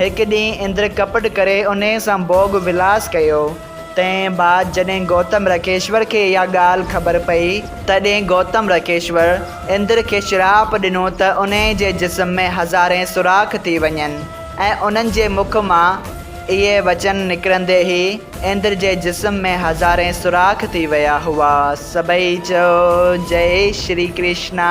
هڪ ڏينهن اندر ڪپٽ ڪري انهيء سان ڀوڳ ولاس ڪيو. تنهن بعد جڏهن گوتم رڪيشور کي اها ڳالهه خبر پئي، تڏهن گوتم رڪيشور اندر کي شراپ ڏنو ته انهيء جي جسم ۾ هزارين سوراخ ٿي وڃن ۽ انهن جي مک مان اهي وچن نڪرندي ئي اندر جي جسم ۾ هزارين سوراخ ٿي ويا هئا. سڀئي چيو، جئي شري ڪرشنا!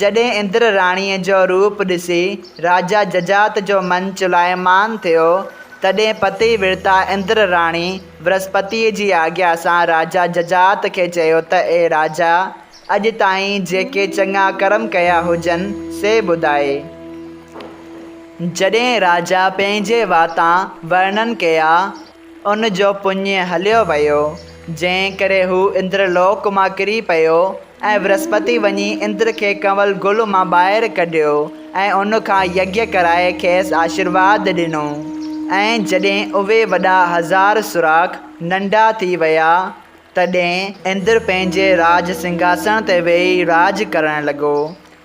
جڏهن اندر راڻيء جو روپ ڏسي راجا ججات جو من چلايمان ٿيو، تڏهن پتي ورتا اندر راڻي برسپتيء جي آجيا سان راجا ججات کي چيو ته اي راجا! اڄ تائين جيڪي چڱا ڪرم ڪيا هجن، سي ٻڌاء. جڏهن راجا پنهنجي واتان ورنن ڪيا، ان جو پڃ هليو ويو، جنهن ڪري هو اندر لوڪ مان ڪري پيو، ۽ ورهسپتي وڃي اندر کي ڪنول گل مان ٻاهر ڪڍيو، ۽ ان کان يگيه ڪرائي کيس آشيرواد ڏنو. ۽ جڏهن اهي وڏا هزار سوراخ ننڍا ٿي ويا، تڏهن اندر پنهنجي راڄ سنگهاسڻ تي ويهي راڄ ڪرڻ لڳو،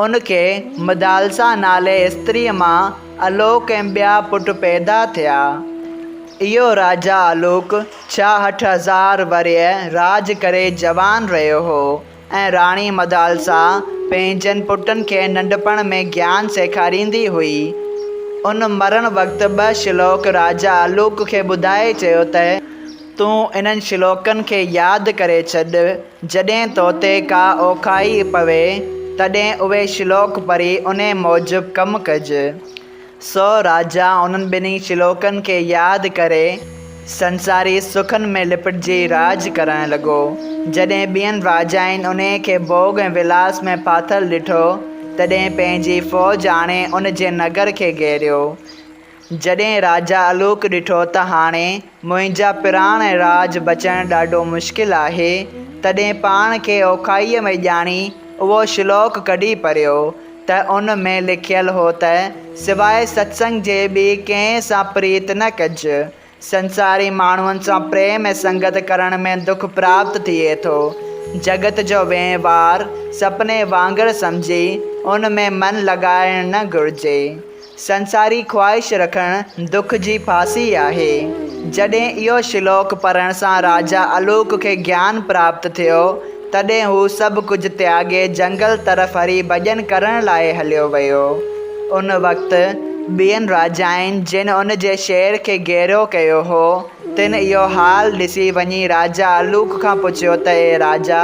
ان کي مدالسا نالي استريء مان الوڪ ۽ ٻيا پٽ پيدا ٿيا. اهو راجا الوڪ ڇاهٺ هزار ورهيه راڄ ڪري جوان رهيو هو ۽ راڻي مدالسا پنهنجن پٽن کي ننڍپڻ ۾ گيان سيکاريندي هئي. ان مرڻ وقت ٻه شلوڪ راجا الوڪ کي ٻڌائي چيو ته. تون انهن شلوڪن کي ياد ڪري ڇڏ، جڏهن تو تي ڪا اوکاهي پوي، تڏهن اهي شلوڪ پڙهي انهي موجب ڪم ڪج. سو راجا انهن ٻنهي شلوڪن کي ياد ڪري، سنساري سکن ۾ لپٽجي راڄ ڪرڻ لڳو. جڏهن ٻين راجائن انهي کي ڀوڳ ۽ ولاس ۾ ڦاٿل ڏٺو، تڏهن پنهنجي فوج آڻي ان جي نگر کي گهيريو. جڏهن راجا الوڪ ڏٺو ته هاڻي منهنجا پراڻ ۽ راڄ بچائڻ ڏاڍو مشڪل آهي، تڏهن پاڻ کي اوکائيء ۾ ڄاڻي اهو شلوڪ ڪڍي پڙهيو، ته ان ۾ لکيل هو ته، سواء ستسنگ جي ٻي ڪنهن سان پريت نه ڪج. سنساري ماڻهن سان پريم ۽ سنگت ڪرڻ ۾ دک پراپت ٿئي ٿو. جڳت جو وهنوار سپني وانگر سمجهي ان ۾ من لڳائڻ نه گهرجي. سنساري خواهش رکڻ دک جي ڦاسي آهي. جڏهن اهو شلوڪ پڙهڻ سان راجا الوڪ کي گيان پراپت ٿيو تڏهن هو سڀ ڪجهه تياڳي جهنگل طرف هري ڀڄن ڪرڻ لاء هليو ويو. ان وقت ٻين راجائن جن ان جي شهر کي گهيرو ڪيو هو، تن اهو حال ڏسي وڃي راجا الوڪ کان پڇيو ته اي راجا!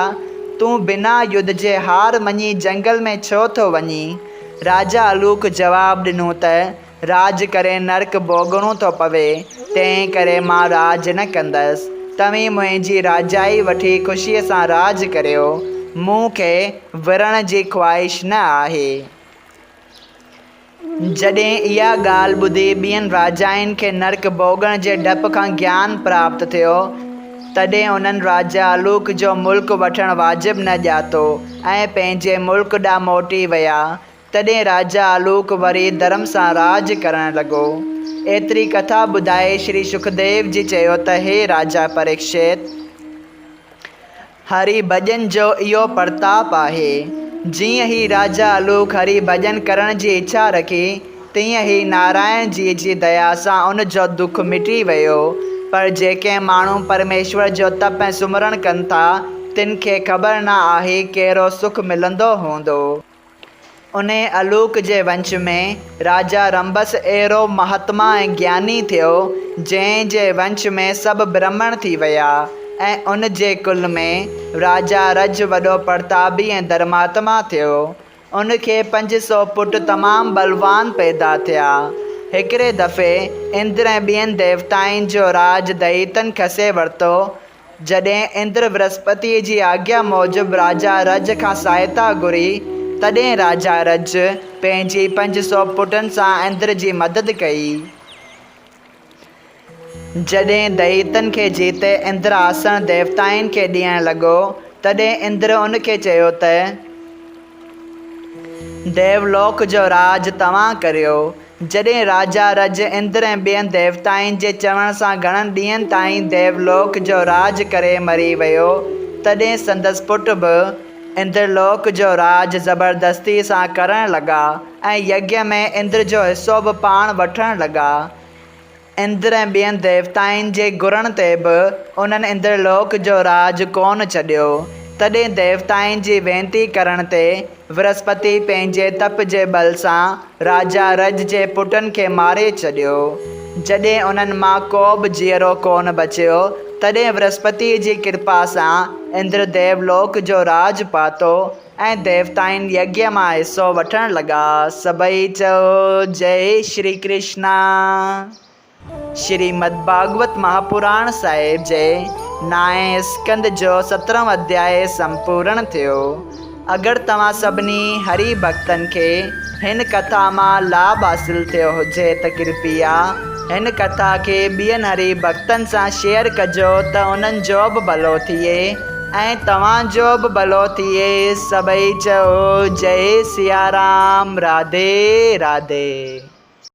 تون بنا يڌ جي هار مڃي جهنگل ۾ ڇو ٿو وڃين؟ راجا الوڪ جواب ڏنو ته راڄ ڪري نرڪ ڀوڳڻو ٿو پوي، تنهن ڪري مان راڄ نه ڪندس. توهين منهنجي راجائي وٺي خوشيء سان راڄ ڪريو. مون کي ورڻ جي خواهش نه آهي. جڏهن اها ڳالهه ٻڌي ٻين راجائن کي نرڪ ڀوڳڻ جي ڊپ کان گيان پراپت ٿيو، تڏهن انهن راجا الوڪ جو ملڪ وٺڻ واجب نه ڄاتو ۽ پنهنجي ملڪ ڏانهن موٽي ويا. تڏهن راجا آلوڪ وري ڌرم سان راڄ ڪرڻ لڳو. ايتري ڪٿا ٻڌائي شري شڪديو جي چيو ته هي راجا پريڪشيت! هري ڀڄن جو اهو پرتاپ آهي. جيئن هي راجا آلوڪ هري ڀڄن ڪرڻ جي اڇا رکي، تيئن هي نارائڻ جيء جي ديا سان ان جو دک مٽي ويو. پر جيڪي ماڻهو پرميشور جو تپ ۽ سمرڻ ڪن ٿا، تن کي خبر نه آهي ڪهڙو سک ملندو هوندو. انهيء الوڪ جي ونش ۾ راجا رنڀس اهڙو مهاتما ۽ گياني ٿيو، جنهن جي ونش ۾ سڀ برهمڻ ٿي ويا ۽ ان جي ڪل ۾ راجا رج وڏو پرتابي ۽ ڌرماتما ٿيو. ان کي پنج سؤ پٽ تمام بلوان پيدا ٿيا. هڪڙي دفعي اندر ۽ ٻين ديوتائن جو راڄ دئيتن کسي ورتو جڏهن اندر برهسپتيء جي آگيا موجب راجا رج کان سهائتا گهري، تڏهن راجا رج پنهنجي پنج سؤ پٽن سان اندر جي مدد ڪئي. جڏهن دئيتن کي جيتي اندر آسڻ ديوتائن کي ڏيڻ لڳو، تڏهن اندر ان کي چيو ته. ديولوڪ جو راڄ توهان ڪريو. جڏهن راجا رج، اندر ۽ ٻين ديوتائن جي چوڻ سان گهڻن ڏينهن تائين ديولوڪ جو راڄ ڪري مري ويو، تڏهن سندس پٽ به اندرلوڪ جو راڄ زبردستيء سان ڪرڻ لڳا ۽ يگيا ۾ اندر جو حصو به پاڻ وٺڻ لڳا. اندر ۽ ٻين ديوتائن جي گھرڻ تي به انهن اندر لوڪ جو راڄ ڪونه ڇڏيو. تڏهن ديوتائن جي وينتي ڪرڻ تي ورهسپتي پنهنجي تپ جي ٻل سان راجا رج جي پٽن کي ماري ڇڏيو. جڏهن انهن مان ڪوبه جيئرو ڪونه بچيو، تڏهن ورهسپتيء جي ڪرپا سان اندر ديو لوڪ جو راڄ پاتو. ۽ ديوتائن يگيا مان حصو وٺڻ لڳا. سڀئي چيو جئي شري ڪرشنا. شريمد ڀاڳوت مهاپراڻ صاحب جي نائين اسڪنڌ جو سترهون اڌياء سمپورڻ ٿيو. اگر توهان سڀني هري ڀڳتن کي هن ڪٿا مان لاڀ حاصل ٿيو هجي ته ڪرپيا هن ڪٿا کي ٻين هري ڀڳتن سان شيئر ڪجو ته انهن جو به ڀلو ٿئي. ۽ توهان جو به ڀلو ٿئي سڀئي چئو جئي سيارام راڌي راڌي.